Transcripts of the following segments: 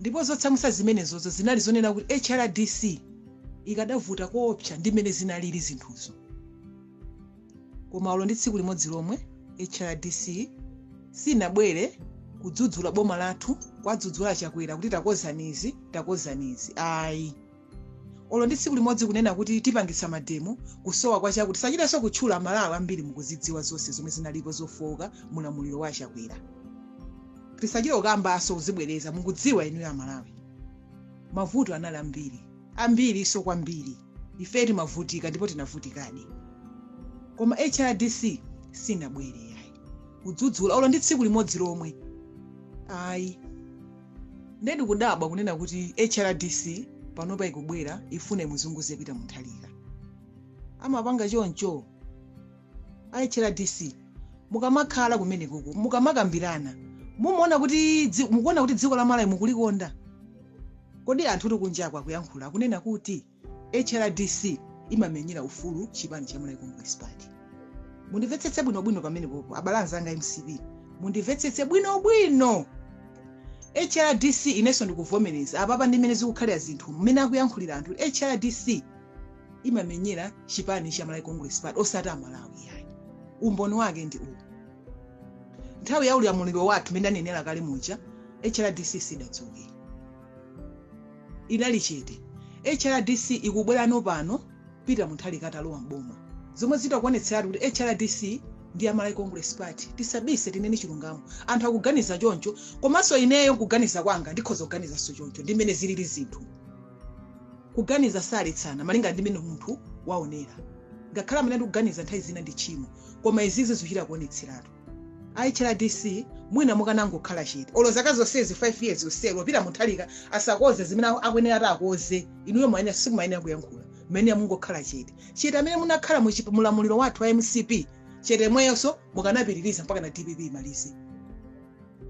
ndipo zotsamwitsa zimenezozo zinali zonena kuti hrdc ikadavuta koopsa ndi mmene zinalili zinthuzo koma olo ndi tsiku limodzi lomwe hrdc sinabwere kudzudzula boma lathu kwadzudzula chakwera kuti takonzani izi takonzani izi ayi olo ndi tsiku limodzi kunena kuti tipangitsa mademo kusowa kwa chakuti tisachitenso kutchula amalawi ambiri mukuzidziwa zonse zomwe zinalipo zofooka mulamuliro wa achakwera tisachite kukambanso kuzibwereza mukudziwa inuyo amalawi mavuto anali ambiri ambirinso kwambiri ife timavutika ndipo tinavutikadi koma hrdc sinabwere ayi kudzudzula olo ndi tsiku limodzi lomwe ayi nde ndikudabwa kunena kuti hrdc panopa ikubwera ifuna imuzunguze Peter Mutharika amapanga choncho a hrdc mukamakhala kumenekuku mukamakambirana mumaona kuti dzi- mukuona kuti dziko la malawi mukulikonda kodi anthu ali kunjako akuyankhula akunena kuti hrdc imamenyera ufulu chipani cha Malawi Congress Party. Mundimvetsetse bwinobwino pamenepopo abale anzanga a MCP, mundimvetsetse bwinobwino. HRDC inenso ndikuvomereza apapa ndi mmene zikukhalira zinthu mmene akuyankhulira anthu HRDC imamenyera chipani cha Malawi Congress Party osati amalawi yayi. Umboni wake ndi uwu. Nthawi ya ulamuliro wathu mmene anenera kale muja HRDC sidatuluke. inali chete. HRDC ikubwerano pano Peter Mutharika atalowa m'boma zomwe zichita kuonetseratu kuti HRDC ndi ya Malawi Congress Party. Tisabise tinene chilungamo. Anthu akuganiza choncho komanso ineyo nkuganiza kwanga ndikhoza kuganizanso choncho ndi mmene zilili zinthu. Kuganiza saletsana malinga ndi mmene munthu waonera. Ngakhale amanena kuti kuganiza nthawi zina ndi tchimo koma izizi zikuchita kuonetseratu. a hrdc mwina mukanangokhala chete olo zaka zonsezi 5 years yonseyi olo Peter Mutharika asakonze zimene aku- akuyenera kuti akonze inuyo mwayenera simumayenera kuyankhula mmayenera mungokhala chete chete mmene munakhalira mu chip- mulamuliro wathu wa mcp chete mweyonso mukanapitiriza mpaka na dpp imalize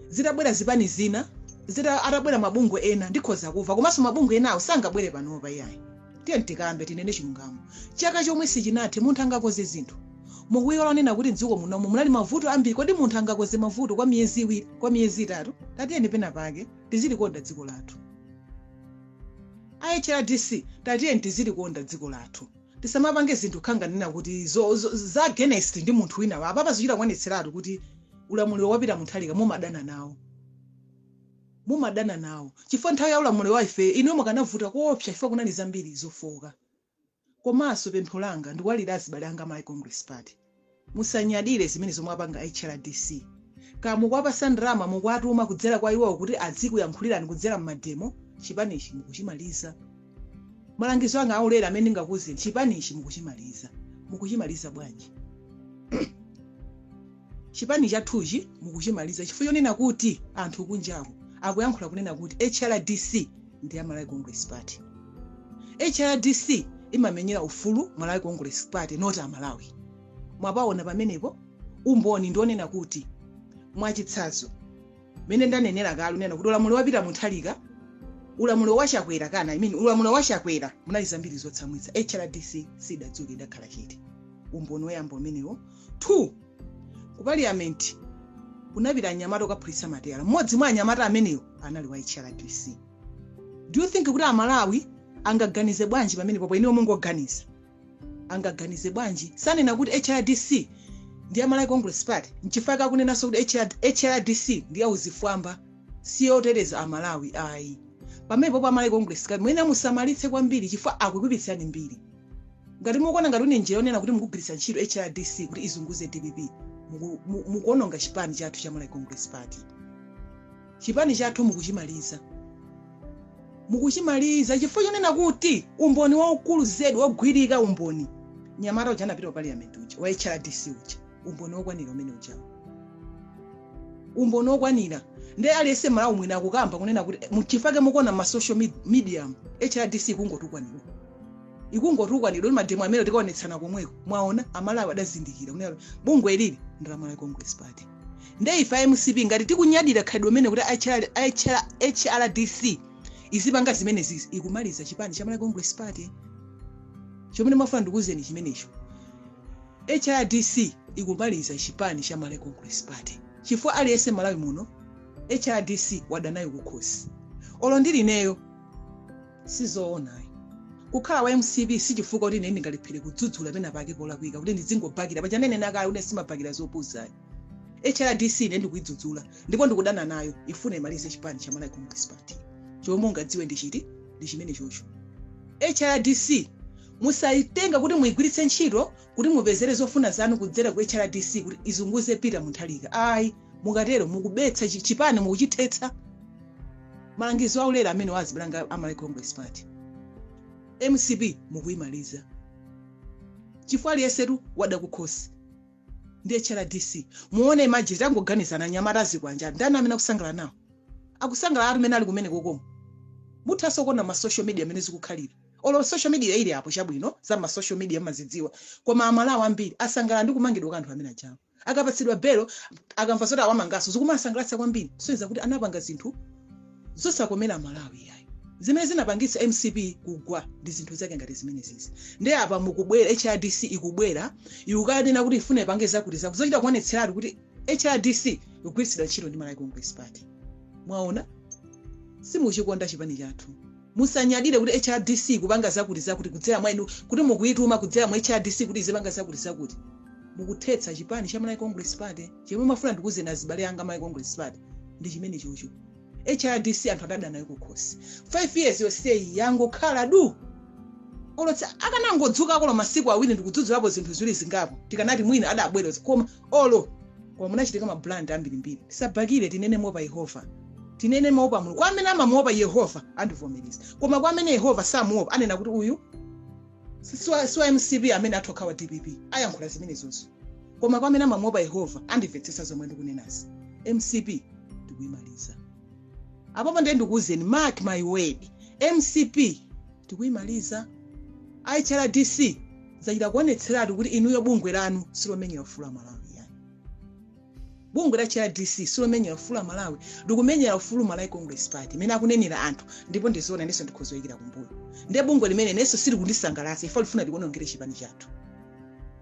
zitabwera zipani zina zita atabwera mabungwe ena ndikhoza kumva komanso mabungwe enawo sangabwere panopa iyayi tiyeni tikambe tinene chilungamo chaka chomwe sichinathe munthu angakonze zinthu mukuiwala kunena kuti mdziko munomu munali mavuto ambiri kodi munthu angakonze mavuto kwa miyezi iwiri kwa miyezi itatu tatiyeni pena pake tizilikonda dziko lathu a hrdc tatiyeni tizilikonda dziko lathu tisamapange zinthu ngati kunena kuti zo, zo, za against ndi munthu wina wake apapa zichita kuonetseratu kuti ulamuliro wa Peter Mutharika mumadana nawo mumadana nawo chifukwa nthawi ya ulamuliro wa ife inuyo mukanavuta koopsa chifukwa kunali zambiri zofooka komanso pempho langa ndikuwalirira azibale anga a Malawi Congress Party Musanyadire zimene zomwe apanga a hrdc. Kaya mukuwapatsa ndalama, mukuwatuma kudzera kwa iwowo kuti adzikuyankhulirani kudzera mmademo, chipanichi mukuchimaliza. Malangizo anga aulere amene ndingakuuzeni, chipanichi mukuchimaliza. Mukuchimaliza bwanji? Chipani chathuchi mukuchimaliza chifukwa chonena kuti anthu kunjaku akuyankhula kunena kuti hrdc ndi ya malawi congress party hrdc imamenyera ufulu malawi congress party not amalawi mwapaona pamenepo umboni ndi wonena kuti mwachitsanzo mmene ndanenera kale kunena kuti ulamuliro wa peter mutharika ulamuliro wa chakwera kana I mean, ulamuliro wa chakwera munali zambiri zotsamwitsa hrdc sidadzudzule idakhala chete umboni woyamba umenewo two Ku paliyamenti kunapita anyamata okaphulitsa matayala. Mmodzi mwa anyamata amenewo anali wa HRDC. Do you think kuti Amalawi angaganize bwanji pamenepopo inuyo mungoganiza? Angaganize bwanji? Sanena kuti HRDC ndi ya Malawi Congress Party. Nchifukwa chake akunenanso kuti HR HRDC ndi ya uchifwamba si yoteteza Amalawi ayi. Pamenepopo a Malawi Congress Party muyenera musamalitse kwambiri chifukwa akukuipitsirani mbiri. ngati mukuona ngati ndi njira yonena kuti mukugwiritsa ntchito hrdc kuti izunguze dpp muku- mu- mukuononga chipani chathu cha malawi congress party chipani chathu mukuchimaliza mukuchimaliza chifukwa chonena kuti umboni waukulu zedi wogwirika umboni mnyamata uja anapita ku parliament uja wa hrdc uja umboni wokwanira umeneujawo umboni wokwanira ndi aliyense mmalawi mwina akukamba kunena kuti nchifukwa chake mukuona mma social med- medium hrdc ikungotukwanidwa ikungotukwanidwa kuti mademo amenewo tikaonetsana komweko mwaona amalawi adazindikira kunena kuti bungwe ili ndi la malawi congress party nde ife a mcp ngati tikunyadira khalidwe limeneli kuti HR HR hrdc izipanga zimenezizi ikumaliza chipani cha malawi congress party chomwe ndimafuna ndikuuzeni chimenecho hrdc ikumaliza chipani cha malawi congress party chifukwa aliyense mmalawi muno hrdc wadanayo kukhosi olo ndili ineyo sizoona ayi kukhala wa mcp sichifukwa kuti ine ndingalephere kudzudzula pena pake polakwika kuti ndizingobhakira paja ndinanena kale ine sindimabhakira zopusa ayi hrdc ine ndikuidzudzula ndipo ndikudana nayo ifuna imalize chipani cha malawi congress party chomwe mungadziwe ndi chiti ndi chimenechocho hrdc musayitenga kuti muigwiritse ntchito kuti mupezere zofuna zanu kudzera ku hrdc kuti izunguze Peter Mutharika ayi mukatero mukuphetsa chi- chipani mukuchithetsa malangizo aulere amene wazipelanga a Malawi Congress Party mcp mukuyimaliza chifukwa aliyensetu wada kukhosi ndi hrdc muone imagine tangoganizani anyamata a zikwanje ndani amene akusangalala nawo akusangalala anthu amene ali kumenekoko muthanso kuona mma social media mmene zikukhalira Olo social media ili apo chabwino za ma social media mmazidziwa koma a Malawi ambiri asangalala ndi kumangidwa kwa anthu amene ajawa. Akapatsidwa belo, akamva zoti awamanganso zikumawasangalatsa kwambiri kusonyeza kuti anapanga zinthu zosakomera a Malawi iyayi. Zimene zinapangitsa mcp kugwa ndi zinthu zake ngati zimenezizi. Ndiye apa mukubwera HRDC ikubwera ikukanena kuti ifuna ipange zakuti zakuti zochita kuonetseratu kuti HRDC ikugwiritsidwa ntchito ndi Malawi Congress Party. Mwaona? Simukuchikonda chipani chathu. Musanyadire kuti hrdc ikupanga zakuti zakuti kudzera mwa inu kuti mukuyituma kudzera mwa hrdc kuti izipanga zakuti zakuti. Mukuthetsa chipani cha Malawi Congress Party. Chomwe ndimafuna ndikuuzeni azibale anga Malawi Congress Party ndi chimenechocho. Hrdc anthu adada nayo kukhosi. 5 years yonseyi yangokhala du! Olo tsa akanangodzukako olo masiku awiri ndikudzudzulapo zinthu ziwiri zingapo tikanati mwina adabwera koma olo koma munachitika ma blunder ambirimbiri tisabhakire tinene mopa yehova tinene mopa mulungu kwa amene amamuopa yehova andivomereza koma kwa amene yehova samuopa anena kuti uyu si- si wa- si wa mcp amene atokha wa dpp ayankhula zimenezozo koma kwa amene amamuopa yehova andimvetsetsa zomwe ndikunenazi mcp ndikuyimaliza apapa ndiye ndikuwuzeni mark my word mcp tikuyimaliza hrdc zachita kuonetseratu kuti inuyo bungwe lanu silomenyera ufulu wa amalawi iyayi bungwe la hrdc silomenyera ufulu wa amalawi likumenyera ufulu malawi congress party mmene akunenera anthu ndipo ndi zoona inenso ndikhoza kuyikira kumbuyo ndiye bungwe limene inenso silikundisangalatsa ife lifuna likuonongere chipani chathu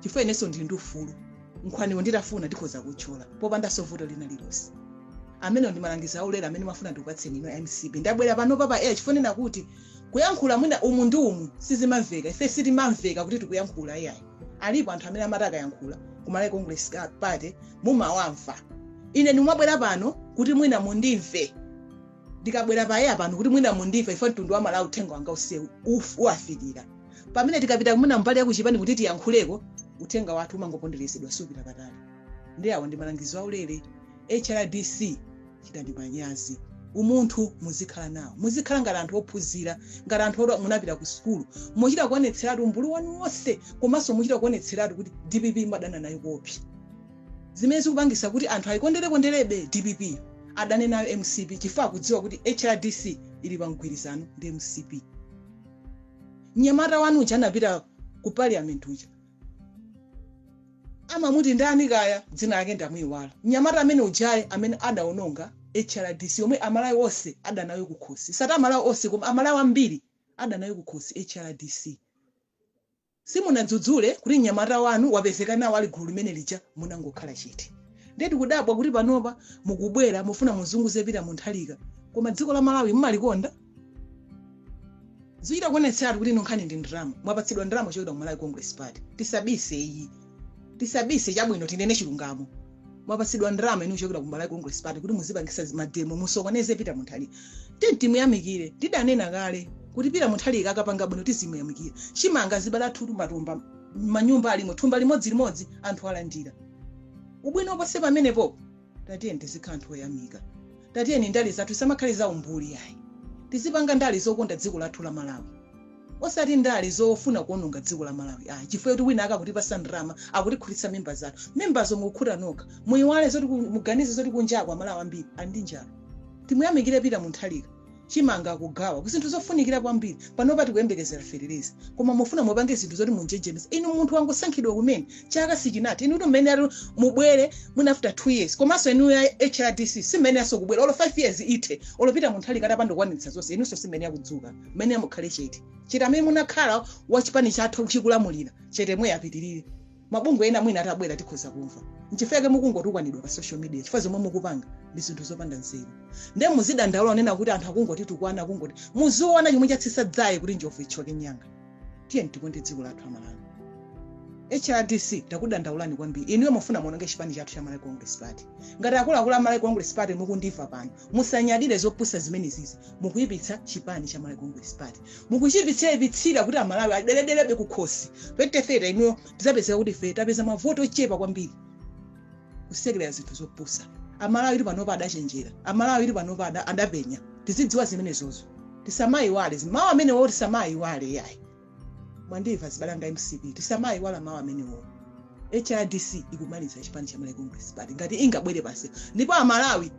chifukwa inenso ndili ndi ufulu nkhwaniwo nditafuna ndikhoza kutchula popandanso vuto lina lilonse amenewo ndi malangizo aulere amene ndimafuna ndikupatseni inu mcp ndabwera panopa pa air chifukwa chonena kuti kuyankhula mwina umu ndi umu sizimamveka ife sitimamveka kuti tikuyankhula iyayi alipo anthu amene amati akayankhula kumalawi congress ka- party mumawamva ine ndimabwera pano kuti mwina mundimve ndikabwera pa air pano kuti mwina mundimve ife mtundu wa malawi uthenga wanga usewu uf- uwafikira pamene tikapita mwina mbali yakuchipani kuti tiyankhuleko uthenga wathu umangoponderezedwa supita patali ndi awa ndi malangizo aulere hrdc chitani manyazi umunthu muzikhala nawo muzikhala ngati anthu ophunzira ngati anthu oti munapita ku sukulu muchita kuonetseratu umbuli wanu wonse komanso muchita kuonetseratu kuti dpp mumadana nayo kopsa zimene zikupangisa kuti anthu ayikondere konderebe dpp adane nayo mcp chifukwa akudziwa kuti hrdc ili pa mgwirizano ndi mcp mnyamata wanu uja anapita ku parliament uja amamuti ndani kaya dzina lake ndamuyiwala mnyamata amene uja nde amene adaononga hrdc yomwe amalawi onse adanayo kukhosi osati amalawi onse koma amalawi ambiri adanayo kukhosi hrdc Simunadzudzule kuti mnyamata wanu wapezeka nawo ali gulu limene lija munangokhala chete. Ndiye tikudabwa kuti panopa mukubwera mufuna muzunguze Peter Mutharika koma dziko la Malawi mumalikonda? Zikuchita kuonetseratu kuti inu nkhani ndi ndalama. Mwapatsidwa ndalama kuchokera ku Malawi Congress Party. Tisabise iyi. tisabise chabwino tinene chilungamo mwapatsidwa ndalama inu kuchokera ku malawi congress party kuti muzipangisa mademo musokoneze peter mutharika tiye timuyamikire ndidanena kale kuti peter mutharika akapanga bwino tizimuyamikira chimanga zibala athutu matumba manyumba alimo thumba limodzi limodzi anthu alandira ubwino ponse pamenepo tatiyeni tizikhala anthu oyamika tatiyeni ndale zathu zisamakhale za umbuli yayi tizipanga ndale zokonda dziko lathu la malawi osati ndale zofuna kuononga dziko la malawi ayi chifukwa kuti wina akutipasa ndalama akutikhutitsa mimba zathu mimbazo mukukhuta nokha muyiwale zoti ku- muganize zoti kunjako amalawi ambiri ali ndi njala timuyamikire peter mutharika chimanga akugawa ku zinthu zofunikira kwambiri panopa tikuyembekezera fetereza koma mufuna mupange zinthu zoti mumunjenjemeze inu munthu wangosankhidwa kumene chaka sichinathe inu kuti mmene yati mubwere mwina after 2 years komanso inu a hrdc simmene yaso kubwera olo 5 years ithe olo peter mutharika atapanda kukwaniritsa zonse inunso simmene yakudzuka mmene yamukhale chete chete amene munakhala wachipani chathu chikulamulira chetemwe apitirire mabungwe ena mwina atabwera tikhoza kumva nchifukwa chake mukungotukwanidwa pa social media chifukwa zomwe mukupanga ndi zinthu zopanda nzeru nde muzidandaula kunena kuti anthu akungotitukwana akungoti muziona chomwe chatsitsa dzaye kuti njovu ithyoke mnyanga tiyeni tikonde dziko lathu amalawi hrdc takudandaulani kwambiri inuyo mufuna muononge chipani chathu cha malawi congress party ngati akuluakulu a malawi congress party mukundimva pano musanyadire zopusa zimenezizi mukuyipitsa chipani cha malawi congress party mukuchiipitsaipitsira kuti amalawi adeledelebe kukhosi 2030 inuyo tizapezeka kuti ife tapeza mavoti ochepa kwambiri kusekerera zinthu zopusa amalawi ali panopa adachenjera amalawi ali panopa ada- adapenya tizidziwa zimenezozo tisamayiwale mawu amenewo tisamayiwale yayi mwandimva zibalanga mcp tisamayiwala mawu amenewo hrdc ikumaliza chipani cha malawi congress party ngati ingabwere pansi ndipo amalawi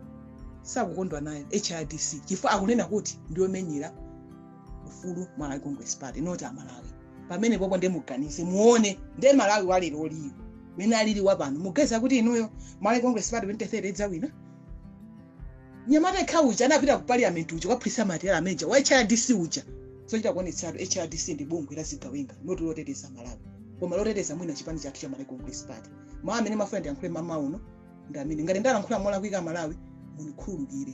sakukondwa nayo hrdc chifukwa akunena kuti ndiyomenyera ufulu malawi congress party not amalawi pamenepopo ndiye muganize muone ndiye malawi walero uliwo mene alili wapano muganiza kuti inuyo malawi congress party 2030 idzawina Mnyamata yekha uja anapita ku parliament uja kukaphulitsa matayala amene uja wa HRDC uja zochita kuonetseratu HRDC ndi bungwe la zigawenga not loteteza Malawi koma loteteza mwina chipani chathu cha Malawi Congress Party mawu amene ndimafuna ndilankhule mamawa uno ndi amene ngati ndalankhula molakwika Malawi mundikhululukire